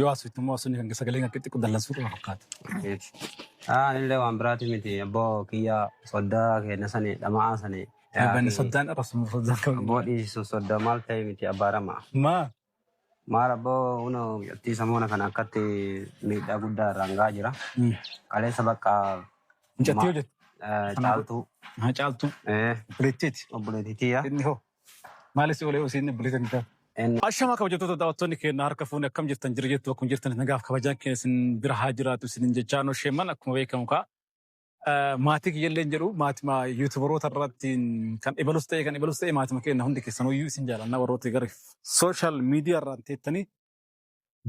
Yoo haasoftu immoo haasofni kan sagalee kan xixiqqoo dallansuu qaba fakkaata. Yes. Ah, anillee waan biraati miti abboo kiyya soddaa keenya sani dhama'aa sani Eebbani yaaqii soddaan arrabsamu soddaan kan abboo dhiisu sodda maal ta'e miti abbaa rama. Maa Maal abboo huno attii samoona kana akkatti miidhaa guddaa irraan ga'aa jira. Kaleessa bakka mucattii ma- hojjetu eh, sana caaltuu haa caaltuu eh, obboleettiiti obboleettii tiyya inni hoo Maali si olee usiin bilisa hin taatu. Ashamaa kabajattoota daawwattoonni keenya harka fuunee akkam jirtan jira jettu akkuma jirtan nagaaf kabajaan keenya isin bira haa jiraatu isin jechaa no sheeman akkuma beekamu kaa maatii kiyyallee hin jedhu maatima yuutubaroota irratti kan ibalus ta'e kan ibalus ta'e maatima keenya hundi keessan hoyyuu isin jaalannaa warroota gara sooshaal miidiyaa irraan teettanii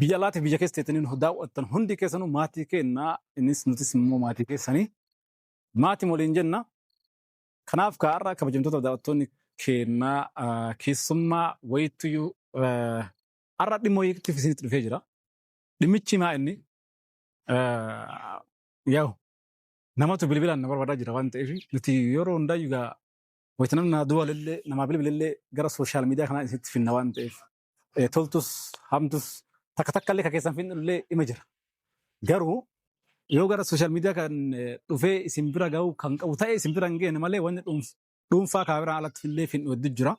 biyya alaatiif biyya keessa teettanii nu daawwattan hundi keessanuu maatii keenya innis nutis immoo maatii keessanii maatii waliin jenna Kanaaf kaa har'a kabajamtoota daawwattoonni keennaa ah, keessummaa wayittuyyuu ah, har'a dhimma wayiitiif isinitti dhufee jira. Dhimmichi maa inni ah, yaa'u namatu bilbilaan na barbaadaa jira waan ta'eef nuti yeroo hundaayyuu gaa wayita namni naa duwwalillee namaa bilbilillee gara sooshaal miidiyaa kanaa isinitti finna waan ta'eef eh, toltus hamtus takka takka illee ka keessan finnu illee ima jira. Garuu yoo gara sooshaal miidiyaa kan eh, dhufee isin bira ga'uu kan qabu ta'e isin bira hin geenye malee wanni dhuunf- dhuunfaa kaameraan alatti illee finnu heddu jira.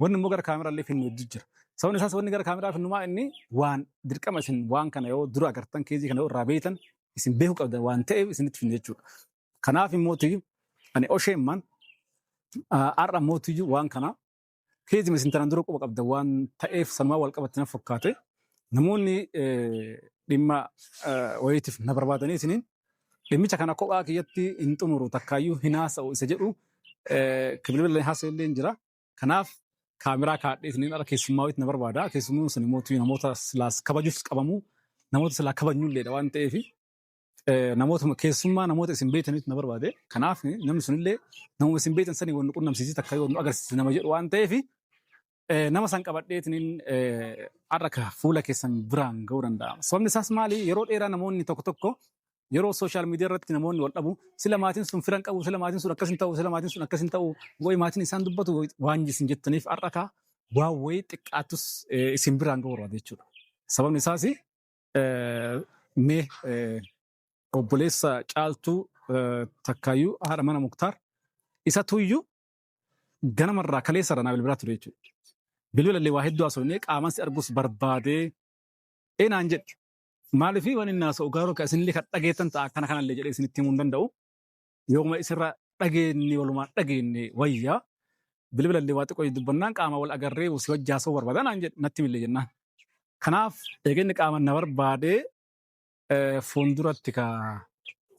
Wanni immoo gara kaameraa illee finnu heddu jira. Sababni isaas wanni gara kaameraa finnumaa inni waan dirqama isin waan kana yoo dura agartan keezii kana yoo irraa beektan isin beekuu qabdan waan ta'eef isinitti finnu jechuudha. Kanaaf immoo ani osheemman har'a mootiyyuu waan kana Keejima isin tanaan dura quba qabdan waan ta'eef sanumaan wal qabatte na fakkaate namoonni dhimma wayiitiif na barbaadanii isiniin dhimmicha kana kophaa kiyyatti hin xumuru takkaayyuu hin haasa'u isa jedhu bilbilaan haasa'e illee hin jira. Kanaaf kaameraa kaadhee isiniin ala keessummaa wayiitti na barbaada. Keessummaan sun immoo namoota silaas kabajuus qabamu namoota silaa kabajnu illee waan ta'eef Namootuma keessummaa namoota isin beektanitti na barbaade. Kanaaf namni sunillee namuma isin beektan sanii wal nu qunnamsiisee takka yoo nu agarsiise nama jedhu waan ta'eef nama san qabadheetiin har'a ka fuula keessan biraan ga'uu danda'a. Sababni isaas maali? Yeroo dheeraa namoonni tokko tokko yeroo sooshaal miidiyaa irratti namoonni wal dhabu sila maatiin sun firan qabu sila maatiin sun akkas hin ta'u sila maatiin sun akkas hin ta'u wayi maatiin isaan dubbatu waan isin jettaniif har'a ka waan wayii xiqqaattus isin biraan ga'uu barbaade jechuudha. Sababni isaas Eh, Mee eh, obboleessa caaltuu eh, takkaayyuu haadha mana muktaar isa tuyyuu ganamarraa kaleessa irraa naa bilbilaa ture jechuudha. Bilbila illee waa hedduu haasofnee qaamaan si arguus barbaadee ee naan jedhe. Maaliif waan inni haasa'u garuu kan isinillee kan dhageettan ta'a akkana kanallee jedhee isinitti himuu hin danda'u. Yooma isirraa dhageenye walumaan dhageenye wayya bilbila illee waa xiqqoo dubbannaan qaama wal agarree si wajji haasa'uu barbaada naan jedhe natti millee jennaan. Kanaaf eega inni qaama na barbaadee eh, fuulduratti ka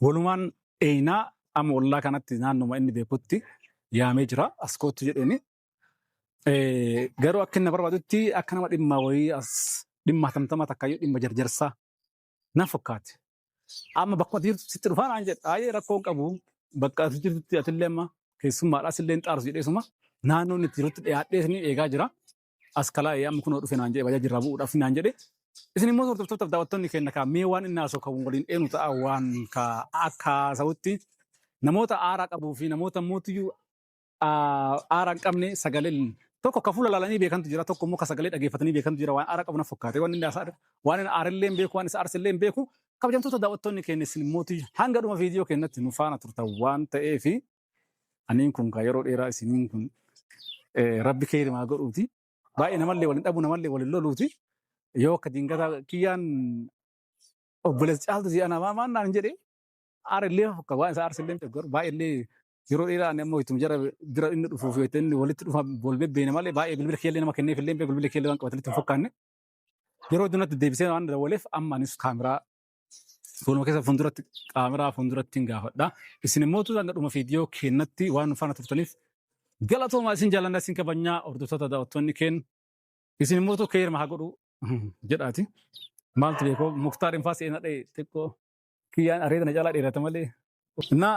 walumaan dheeynaa amma ollaa kanatti naannuma inni beekutti yaamee jira as koottu jedheeni. Eh, Garuu akka inni na barbaadutti akka nama dhimma wayii as dhimma hatamtama takka yoo dhimma jarjarsaa na fakkaate. Amma bakka ati jirtu sitti dhufaa naan jedhe. Aayee rakkoo hin qabu. Bakka ati jirtutti atillee amma keessummaadhaa sillee hin xaarsu jedhee suma naannoon itti jirutti dhiyaadhee isin eegaa jira. As kalaa'ee amma kunoo dhufe naan jedhe bajaajii irraa bu'uudhaaf naan jedhe. Isin immoo hordoftoota daawwattoonni keenya kaa mee waan inni haasoo kan waliin eenu ta'a waan kaa akka haasa'utti namoota aaraa qabuu fi namoota mootiyyuu aara hin qabne sagaleen tokko ka fuula laalanii beekantu jira tokko immoo ka sagalee dhageeffatanii beekantu jira waan aara qabu na fakkaate waan inni haasaa waan inni aarellee hin beeku waan isa aarsellee hin beeku kabajamtoota daawwattoonni keenya isin mootii hanga dhuma viidiyoo keenyatti nu faana turtan waan ta'eef aniin kun kaa yeroo dheeraa isiniin kun eh, rabbi keeri maa godhuuti baay'ee namallee waliin dhabu namallee waliin loluuti yoo akka dingataa kiyyaan obboleessa caaltu si'a namaa maannaan hin jedhee aarellee fakka waan isa aarsellee hin beeku garuu baay'eellee Yeroo dheeraa ani ammoo ittuma jara bira inni dhufuu fi itti inni walitti dhufa wal bebbeene malee baay'ee bilbila keellee nama kenneef illee bilbila keellee waan qabatanitti hin fakkaanne. Yeroo dunatti deebisee waan dawwaleef amma anis kaameraa fuuluma keessa fuulduratti kaameraa fuulduratti hin gaafadha. Isin immoo tuuta hanga dhuma viidiyoo keenyatti waan nu faana turtaniif galatoomaa isin jaallanna isin kabajnaa hordoftoota daawwattoonni keenya. Isin immoo tokko heerma haa godhu jedhaati. Maaltu beekoo muktaar infaa seenaa dha'e xiqqoo kiyyaan areeda na caalaa dheerata malee. Innaa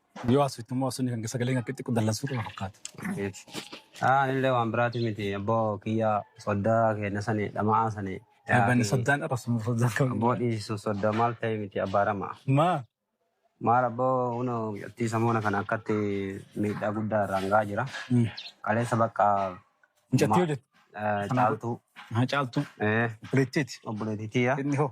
Yoo asfitti immoo asfitni kan sagalee kan xixiqqoo dallansuu qaba fakkaata. Miti. Aa illee waan biraati miti abboo kiyya soddaa keenya sani dhama'aa sani. Banni soddaan arrabsamu soddaan kan. Abboo dhiisu sodda maal ta'e miti abbaa rama. Maa Maal abboo huno attii samoona kana akkatti miidhaa guddaa irraan ga'aa jira. Qaleessa bakka mucattii hojjetu. eh, caaltuu. Haa caaltuu. Eh, Obboleettiiti. obboleettii tiyya. Inni hoo.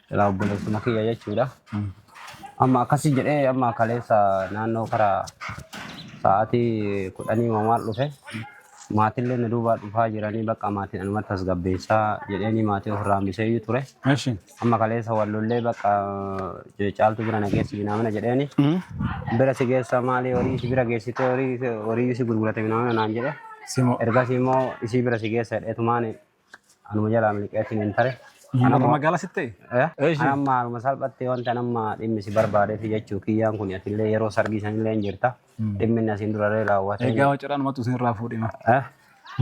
Ilaa obboleessuma kiyya jechuudha. Amma akkasii jedhee amma kaleessa naannoo karaa sa'aatii kudhanii mamaal dhufe. Maatillee na duubaa dhufaa jiranii bakka maatiin anumatti tasgabbeessaa jedheenii maatii ofirraa hambiseeyyuu ture. Eshi. Amma kaleessa wallollee bakka eh, caaltu bira na geessi binaamina jedheeni. Bira si geessa maali horii si bira geessitee horii horii si gurgurate binaamina naan jedhe. Simo. Ergasii immoo isii bira si geessa jedheetumaan Anuma jalaa miliqeetiin hin tare. Anuma magaalaa sitti ta'e? Eh? Eeshi. Anamma anuma salphatti wanta anamma dhimmi si barbaadeef jechuu kiyyaan kun atillee yeroo sargii sanillee hin jirta. Dhimmi inni asiin duraree raawwate. Egaa wacaraan matu isin irraa fuudhima. Eh?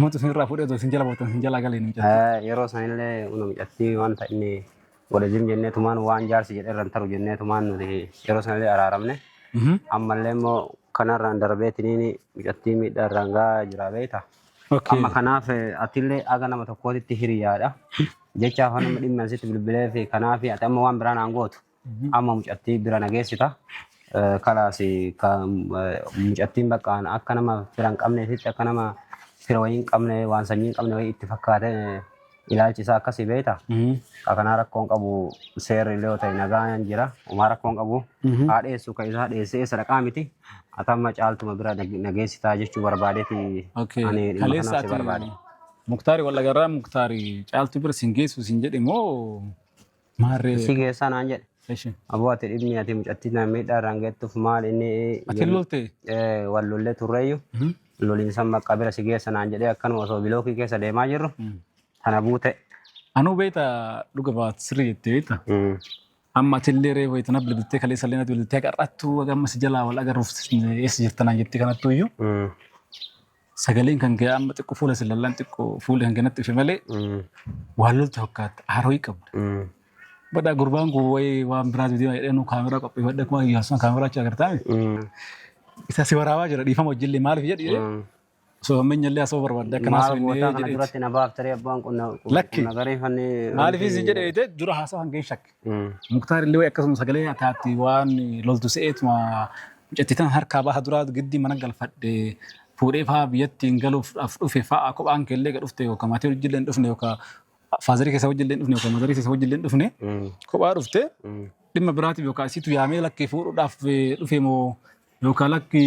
Matu isin irraa fuudhee otoo isin jala boottan isin jala galee nu jala. Eh, Yeroo sanillee una mucattii wanta inni godhe zim jennee tumaan waan jaarsi jedhe irra hin taru jennee tumaan nuti yeroo sanillee araaramne. Ammallee immoo kanarraan darbeetiniin mucattii miidhaa irraan gahaa jira beekta. Okay. Amma kanaaf eh, atillee aga nama tokkootitti hiriyaadha. Jecha afaan nama dhimmi asitti bilbilee fi kanaaf ati amma waan biraan aan gootu amma mucattii bira nageessita. Eh, Kalaas eh, ka- eh, mucattiin bakka aan akka nama fira hin qabneefitti akka nama fira wayii hin qabne waan sanyii hin qabne wayii itti fakkaate eh, Ilaalchi isaa akkasii beektaa? Ka kanaa rakkoon qabu seerri illee yoo ta'e nagaan jira. Umaa rakkoon qabu haa dheessu ka isaa dheessee eessa dhaqaa miti. Ati amma caaltuma bira nag- nageessitaa jechuu barbaadeeti Okay. ani dhimma Kaleessa kanaaf si ati barbaade. Muktaari wal agarraa Muktaari caaltu bira sin geessu sin jedhe moo Maarree. Isii keessaa naan jedhe. Eshi. Aboo ati dhibni ati mucattii na miidhaa irraan geettuuf maal inni Ati hin lolte. eh, wal lollee turreeyyu Mhm. loliinsan maqaa bira si geessa naan jedhee akkanuma osoo bilookii keessa deemaa jirru tana buute. Anuu beekta dhuga baat sirrii jettee beekta. Mm. Amma ati illee reefu itti nabbi biltee kaleessa illee natti biltee qarrattuu amma si jalaa wal agarruuf eessa jirtanaan jettee kanattuu iyyuu. Mm. Sagaleen kan kee amma xiqqoo fuula si lallaan xiqqoo fuulli kan kennatti dhufe malee waan loltu fakkaatta haaroo qabda. Badhaa gurbaan kun wayii waan biraatu deema jedhee nu kaameraa qopheeffadhe akkuma Iyyaasuun kaameraa achi agartaa isa si waraabaa jira dhiifama hojjillee maaliif jedhi osoo hammeenya illee asoo barbaadde akka naasoo inni jedhe. Duratti na baaftaree abbaan qonna Lakki. nagareeffannee. Maaliif isin jedhe dura haasaa hangeen shakke. Muktaar illee akkasuma sagalee akaatti waan loltu se'eetuma mucatti tan harkaa baha duraa giddi mana galfadhe fuudhee fa'aa biyyatti hin galuuf dhufe fa'aa kophaan kee illee dhufte yookaan maatii hojii illee hin dhufne yookaan faazarii keessa hojii illee hin dhufne yookaan mazarii keessa hojii illee hin dhufne kophaa dhufte dhimma biraatiif yookaan isiitu yaamee lakkee fuudhuudhaaf dhufe moo Yookaan lakki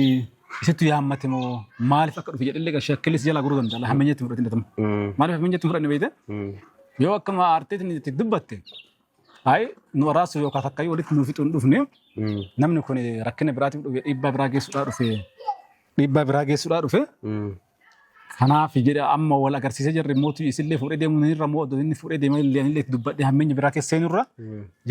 isittu yaammate moo maaliif akka dhufe jedhallee qashee akka illee si jalaa goruu danda'a. Lafa hammeenya ittiin fudhatin dhatama. Maaliif hammeenya ittiin fudhanne beekte? Yoo akkuma aartee isin itti dubbatte ayi nu araasuu yookaan takkayyuu walitti nuuf fixuun dhufne namni kun rakkina biraatiif dhufe dhiibbaa biraa geessuudhaa dhufe dhiibbaa biraa geessuudhaa dhufe Kanaafi jedhe amma wal agarsiisee jarri mootii isillee fuudhee deemuu ni irra moo inni fuudhee deemee illee illee itti dubbadhee hammeenya biraa keessa seenu irra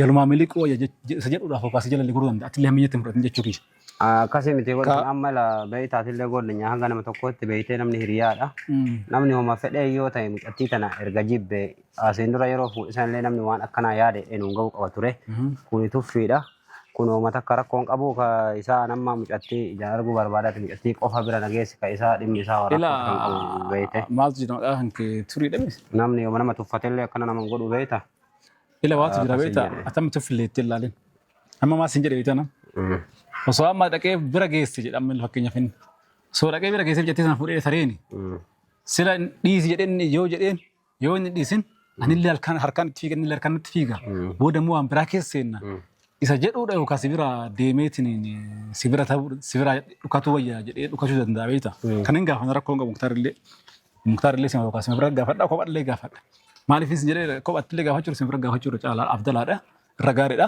jalumaa miliquu wayya jech- je- isa jedhuudhaaf hoggaasa jala illee goruu danda'a. Ati illee hammeenyatti hin fudhatin jechuu kiyya. Akkasii miti kun Ka- kun amma la bahii taatillee goodanya hanga nama tokkootti beeytee namni hiriyaadha. Mm. Namni homa fedhee yoo ta'e mucattii tana erga jibbe asiin dura yeroo fuudhisan illee namni waan akkanaa yaade eenyuun ga'uu qaba ture. Mhm. Kuni tuffiidha. Kun hooma takka rakkoo hin qabu ka isaa an amma mucattii ijaan arguu barbaadaati mucattii qofa bira na geessi ka isaa dhimmi isaa waan rakkoo kan qabu Ilaa beeyte. maaltu jira maqaa kan kee turii dhabe? Namni yooma nama tuffatellee akkana nama hin godhu beeyta. Ila waatu jira Akkas hin beektaa? jedhe. Atama tuffillee itti ilaalin. Amma maas hin jedhe beektaa nam? Mm. Osoo amma dhaqee bira geesse jedha amma fakkeenyaaf inni. Osoo dhaqee bira geesse jettee sana fuudhee tareeni. Mm. Sila dhiisi jedheen yoo jedheen Yoo inni dhiisin anillee halkan harkaan itti fiiga innillee harkaan itti fiiga. Booda immoo waan biraa keessa seenna. Isa jedhuudha yookaan si bira deemeetiin si bira ta'uu si bira dhukatuu wayya jedhee dhukachuu danda'a beekta. Kan hin gaafatan rakkoo hin qabu muktaarillee. Muktaarillee sima yookaan sima bira gaafadha kophallee gaafadha. Maaliif isin jedhee kophattillee gaafachuu sima bira gaafachuu irra caalaa afdalaadha irra gaariidha.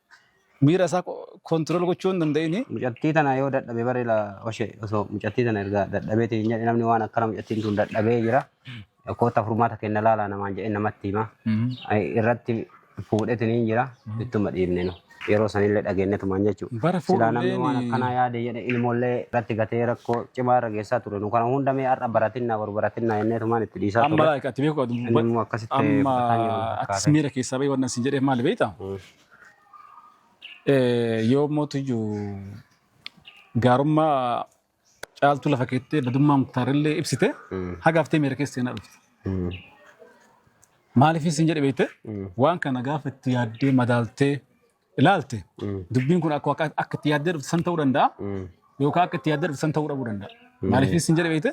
Miira isaa control gochuu hin danda'ini. Mucattii tana yoo dadhabe bari la oshe osoo mucattii tana erga dadhabee ta'e hin jedhe namni waan akkana mucattiin tun dadhabee jira. Koota furmaata kenna laala namaan jedhee namatti hima. Irratti fuudhetin hin jira ittuma dhiibne nu. Yeroo sanillee dhageenyetumaan jechuudha. Bara Silaa namni waan fuudhullee akkanaa yaade jedhe ilmoollee irratti gatee rakkoo cimaa irra geessaa ture. Nu kana hunda mee har'a baratinna boru baratinna jenneetumaan itti dhiisaa amma ture. laayika ati beeku Inni immoo akkasitti amma fudhataa jiru atis fakkaate. miira keessaa bahii waan isin jedheef maali beektaa? Mm. Yoo mootiyyuu gaarummaa caaltuu lafa keettee badummaa muktaarillee ibsite haga haftee miira keessa seenaa dhufte. Maaliif isin jedhe beekte waan kana gaafa itti yaaddee madaaltee ilaalte dubbiin kun akka akka- akka itti yaaddee dhufte san ta'uu danda'a yookaan akka itti yaaddee dhufte san ta'uu dhabuu danda'a. Maaliif isin jedhe beekte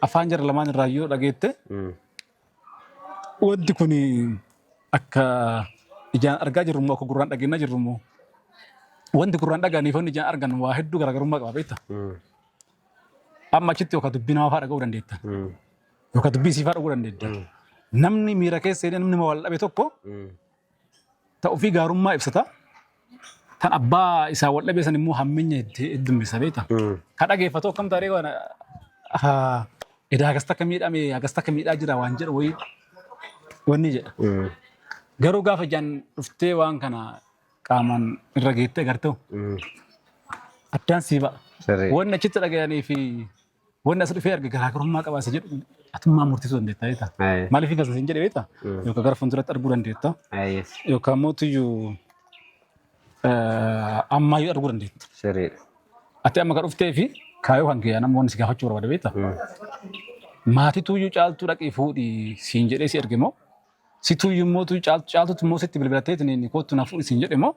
afaan jara lamaan irraa yoo dhageette Wanti kun akka ijaan argaa jirru immoo akka gurraan dhageenyaa jirru immoo wanti gurraan dhaga'anii fi wanti ijaan argan waa hedduu garaagarummaa qaba beekta. Amma achitti yookaan dubbii namaa fa'aa dhaga'uu dandeetta. Yookaan dubbii siifaa dhaga'uu dandeetta. Namni miira keessa seenee namni wal dhabe tokko Ta ofii gaarummaa ibsata. Tan abbaa isaa wal dhabee san immoo hammenya itti heddummessa beekta. Ka dhageeffatu akkam taaree waan edaa akkas takka miidhame akkas takka miidhaa jira waan jedhu wayii wanni jedha. Garuu gaafa ijaan dhuftee waan kana qaamaan irra geettee agartee addaan sii ba'a. Sirrii. Wanni achitti dhaga'anii fi Wanni as dhufee arge garaagarummaa qaba isa jedhu atummaan murteessuu dandeetta jeeta. Aye. Maaliif hin gazasin jedhe beekta? Mm. Yookaan gara fuulduratti arguu dandeetta. Ah, yes. Yookaan immoo tuyyuu ammaayyuu arguu dandeetta. Sirriidha. Ati amma kan dhuftee fi kaayoo kan kiyyaa nama wanni si gaafachuu barbaada beekta? Mm. Maatii tuyyuu caaltuu dhaqii fuudhi siin jedhee si erge moo? Si tuyyuu immoo tuyyuu caaltuutti immoo sitti bilbilattee tiniin kootu na fuudhi siin jedhe moo?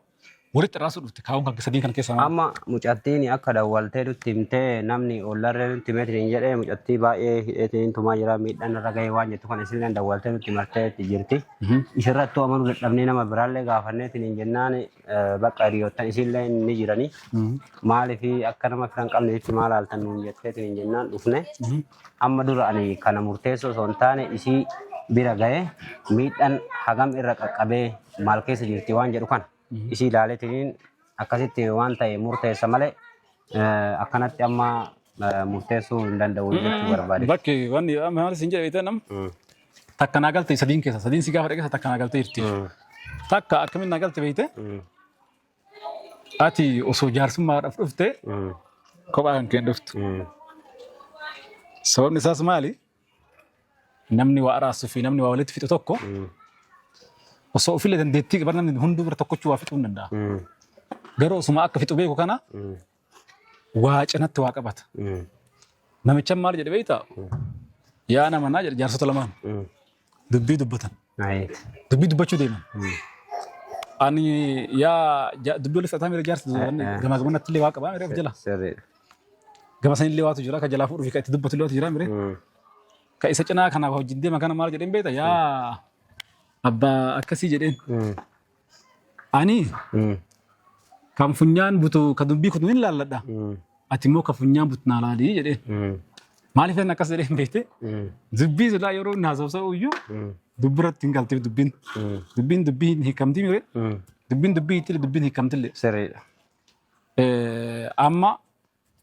Walitti araarsuu dhufte kaawwan kan sadiin kana keessa maal? Amma mucattiin akka dawwaltee nutti himtee namni ollarree nutti himeetiin hin jedhee mucattii baay'ee hidheetiin tumaa jira miidhaan irra gahee waan jettu kana isinillee dawwaltee nutti martee itti jirti. Isirrattuu amanuu dadhabnee nama biraallee gaafanneetiin hin jennaan bakka hiriyoottan isinillee ni jirani. Maaliif akka nama fira hin qabne itti maal haaltan nuun jetteetiin hin jennaan dhufne. Amma dura ani kana murteessuu osoo hin taane isii bira gahee miidhaan hagam irra qaqqabee maal keessa jirti waan jedhu kana isii ilaaleetiin akkasitti waan ta'e murteessa malee eh, akkanatti amma eh, murteessuu hin danda'u jechuu barbaade. Bakki wanni maal siin jedhe beektan Mm, takka naa galte sadiin keessa sadiin si gaafa dhaqeessa takka naa galte jirti. mm, Takka akkamiin naa galte beekte mm, Ati osoo jaarsummaadhaaf dhufte Mm. kophaa kan keen dhuftu. Mm. Sababni isaas maali? Namni waa araarsu fi namni waa walitti fixu tokko Mm. osoo ofillee dandeettii qaban namni hunduu bira tokkochuu waa fixuu hin danda'a. Mm. Garuu osuma akka fixu beeku kana Mm. waa cinatti waa qabata. Mm. Namichan maal jedhe beektaa? Yaa nama naa jedhe jaarsota lamaan Mm. dubbii dubbatan. Ayi. Dubbii dubbachuu deeman. Mm. Ani yaa ja- dubbii walitti fudhataa miira jaarsa Eh, eh. gamaa gamanatti illee waa qabaa miira of jala. Sirriidha. Gama san illee waatu jira ka jalaa fuudhuuf ka itti dubbatu illee waatu jira miira. Mm. Ka isa cinaa kanaaf wajjin deema kana maal jedheen beektaa? Yaa abbaa akkasii jedheen. Mm. Ani Mm. kan funyaan butu kan dubbii kutu hin laalladha. Mm. Ati immoo kan funyaan butu naa laali jedhee. Mm. Maaliif inni akkas jedhee hin beekte? Mm. Dubbii silaa yeroo inni haasofsa'u iyyuu Mm. dubbiratti hin galteef dubbiin. Mm. Dubbiin dubbii hin hiikamtii mire Mm. dubbiin dubbii itti dubbiin hiikamtillee. Sirriidha. Eh, Amma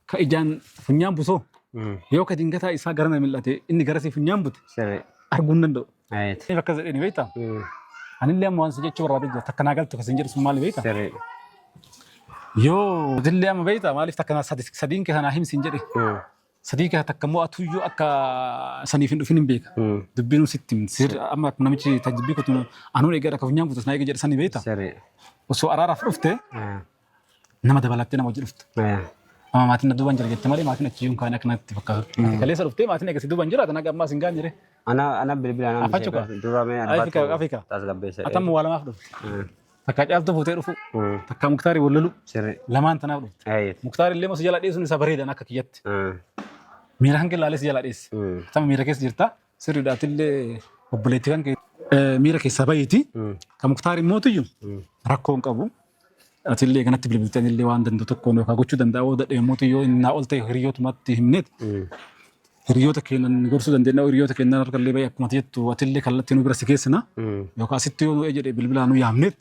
ka ijaan funyaan busoo Mm. yoo ka dingataa isaa gara na mil'ate inni garasii funyaan bute Sirri. arguu hin danda'u. Ayet. Inni akkas jedhee ni beektaa? Mm. Anillee amma waan si jechuu barbaadee jira takka naa galtu kasin jedhu sun maali beektaa? Sirri. Yoo dillee amma beektaa maaliif takka naa sadi- sadiin kee sanaa himsi hin jedhe Mm. sadii kee takka immoo atuyyuu akka saniif hin dhufin hin beeka. Mm. Dubbiin sitti himti. Sir- amma akkuma namichi tajjibbii kutu anuun egaa akka funyaan butus naa eega jedhe sanii beektaa? Sirri. Osoo araaraaf dhufte Ah. Nama dabalattee nama wajji dhuftu. Amma maatiin na duuban jira jette malee maatiin achi iyyuu hin kaane akka natti fakkaatu. Kaleessa dhuftee maatiin eegasii duuban jira tanaga ammaa sin gaan jire. Ana ana bilbila ana Afa cuka. dura mee Afika afika. tasgabbeessa. Atamma waa lamaaf dhufte. Takka caaltuu fuutee dhufu. Takka muktaarii wal lolu. Sirri. Lamaan tanaaf dhufte. Ayyi. Muktaari illee si jala dheessuun isa bareedan akka kiyyatti. Miira hanqin laalee si jala dheesse. Tama miira keessa jirta. Sirriidha atillee obboleetti kan kee miira keessaa bahiiti. Kan muktaar immoo tuyyu rakkoo hin qabu. Atillee kanatti bilbilteen illee waan danda'u tokkoon yookaan gochuu danda'a yoo dadhabe immoo tuyyo innaa ol ta'e hiriyootumatti himneet. Hiriyoota keenan gorsuu dandeenya hiriyoota keenan harka illee bahe akkuma jettu atillee kallattii nu bira si geessina. Yookaan asitti yoo nu jedhe bilbilaa nu yaamneet.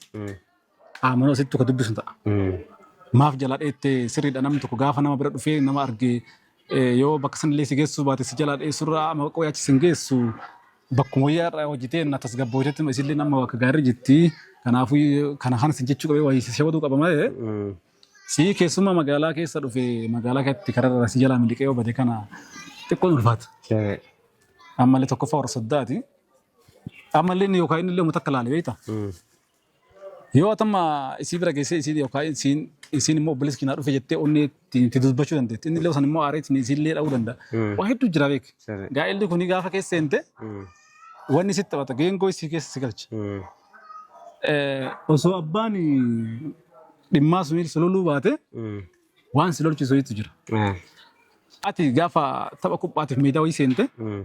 Qaamaan asitti tokko dubbisu ta'a. Maaf jalaa dheette sirriidha namni tokko gaafa nama bira dhufee nama arge eh, yoo bakka sanillee si geessuu baate si jalaa dheessurraa amma qoqqoo yaachi sin geessu bakkuma wayyaa irraa hojjetee na tasgabboojatti isillee nama bakka gaarii jirti. Kanaafuu kana kana sin jechuu qabee wayii si shawaduu qaba malee si keessumaa magaalaa keessa dhufe magaalaa keessatti kararra si jalaa miliqee yoo bade kana xiqqoon ulfaata. Ammallee tokkoffaa warra soddaati. Ammallee inni yookaan inni illee uummata akka laale beekta. Yoo atamma isii bira geessee isiin yookaan isiin isiin immoo obboleessi keenyaa dhufe jettee onnee ittiin itti dubbachuu dandeetti. Inni illee san immoo aaree ittiin isiin illee dha'uu danda'a. Mm. Waa hedduu jira beek. Sirri. Gaa'elli kun gaafa keessa seente Mm. wanni sitti taphata geengoo isii keessa si galcha. Mm. Eh, Osoo abbaan dhimmaa sun si loluu baate Mm. waan si lolchisu hedduu jira. Ah. Ati gaafa tapha kuphaatiif meedaa wayii seente Mm.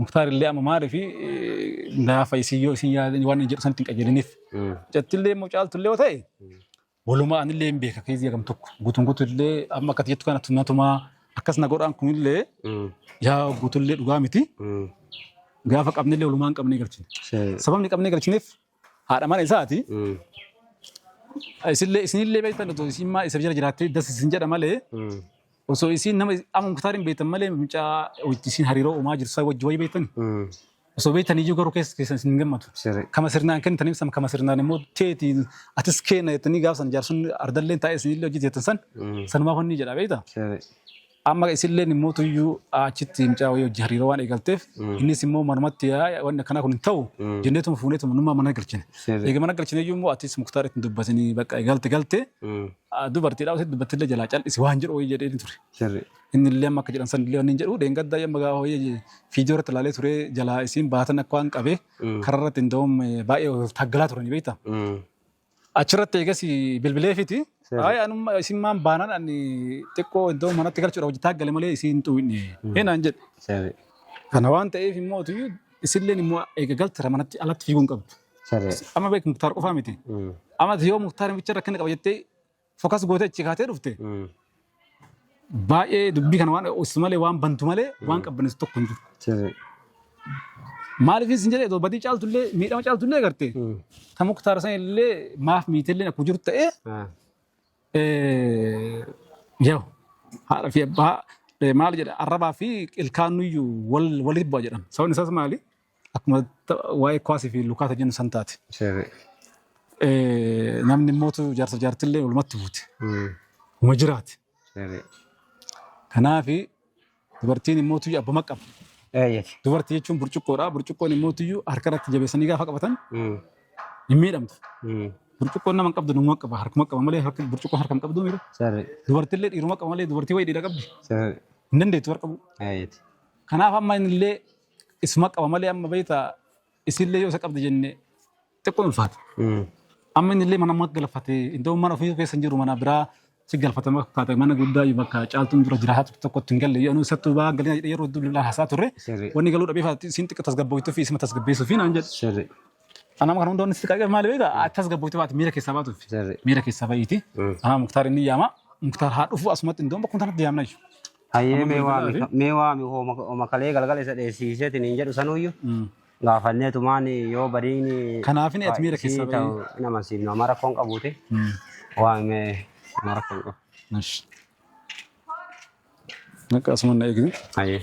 Muktaar illee amma maaliif naafa isin yoo isin yaadan waan inni jedhu sanitti hin qajeeliniif. Jattillee immoo caaltullee yoo ta'e walumaa anillee hin beeka keessi jedhamu tokko guutuun guutuullee amma akkati jettu kana tunatumaa akkas na godhaan kunillee yaa guutuullee dhugaa miti gaafa qabnillee walumaa hin qabnee galchine. Sababni qabnee galchineef Haadha mana isaati. Isinillee isinillee beektan otoo isin maa isa jala jiraattee das isin jedha malee osoo isin nama amma muktaar hin beektan malee mucaa wajji isin hariiroo uumaa jirtu isaa wajji wayii beektan osoo beektan iyyuu garuu keessa keessan isin hin gammadu. Siree. Kama sirnaan kennitaniif san kama sirnaan immoo teeti atis kenna jettanii gaafsan jaarsun ardalleen taa'ee isinillee hojii teettan san sanumaa honni jedha beekta. Siree. Amma isilleen immoo tuyyuu achitti mucaa wayii hojii hariiroo waan eegalteef innis immoo manumatti yaa wanni akkanaa kun hin ta'u jenneetuma fuuneetuma nummaa mana galchine. Sirri. Egaa mana galchine iyyuu immoo atis muktaar ittiin dubbatinii bakka galte galte Mm. dubartiidhaa osoo dubbattillee jalaa cal'isi waan jedhu wayii jedhee ture. Sirri. Inni illee amma akka jedhan san illee wanni jedhu deengaddaa amma gaafa wayii fiidiyoo irratti ilaalee ture jalaa isiin baatan akka waan qabee Mm. karaa irratti hin da'uun baay'ee wal taggalaa turanii beektaa. Mm. Achirratti eegas bilbileefiti. Seera. Ay anumma isin maan baanan ani xiqqoo iddoo manatti galchuudha hojjetaa gale malee isiin xuwinne. Heenaan jedhe. Seera. Kana waan ta'eef immoo tuyyuu isilleen immoo eega galtira manatti alatti fiiguu hin qabdu. Seera. Amma beeku muktaar qofaa miti. Amma yoo muktaar bicha rakkina qaba jettee Fokas gootee achi kaatee dhufte baay'ee dubbii kana waan ossu malee waan bantu malee waan qabbaneessu tokko hin jiru. Sirri. Maaliif isin jedhee otoo badii caaltullee miidhama caaltullee garte kan muktaara san illee maaf miitellee akkuma jiru ta'ee yoo haadha fi abbaa maal jedha arrabaa fi ilkaan nuyyuu walitti bu'a jedhan sababni isaas maali Akkuma ta- waa'ee kuwaasii fi lukaata jennu san taate. Sirri. Eh, Namni mootu jaarsa jaartillee walumatti buute. Mm. Uma jiraate. Sirri. Kanaaf dubartiin immoo tuyyu abbuma qaba. Eeyyati. Dubartii jechuun burcuqqoodha. Burcuqqoon immoo tuyyu harka irratti jabeessanii gaafa qabatan Mm. hin miidhamtu. Mm. Burcuqqoon nama hin qabdu nama qaba. Harkuma qaba malee harka burcuqqoo harka hin qabdu miidha. Sirri. Dubartillee dhiiruma qaba malee dubartii wayii dhiira qabdi. Sirri. Hin dandeettu warra qabu. Eeyyati. Kanaaf amma inni illee Isuma qaba malee amma beekta isillee yoo isa qabdi jenne xiqqoo ulfaata. Amma inni illee mana amma galfate iddoo mana ofii keessa hin jiru mana biraa si galfatama fakkaata mana guddaa iyyuu bakka caaltuun dura jira haatu tokkotti hin galle yoo isattuu baa galina jedhee yeroo hedduu bilbilaan haasaa turre Sirri. wanni galuu dhabee faati siin xiqqoo tasgabbooftuu fi isuma tasgabbeessuu fi naan jedhe. Sirri. Ana amma kan hundoonni si qaqqabe maali beekta ati tasgabbooftuu baate miira keessaa baatuuf Sirri. miira keessaa ba'iiti. Haa muktaar inni yaama muktaar haa dhufu asumatti iddoo bakkuma sanatti yaamna jechuudha. Hayyee Amma mee bilbilaa waami fi mee waami hooma hooma kalee galgala isa dheessiiseetiin hin jedhu sanuuyyu Mm. gaafanneetumaan yoo badiin kanaaf inni ati miira keessaa isii ta'u bahee. hin amansiifnu amma rakkoon qabuuti Mm. waami mee amma rakkoon qabu. Nash. Akka asuma na eegdu. Hayyee.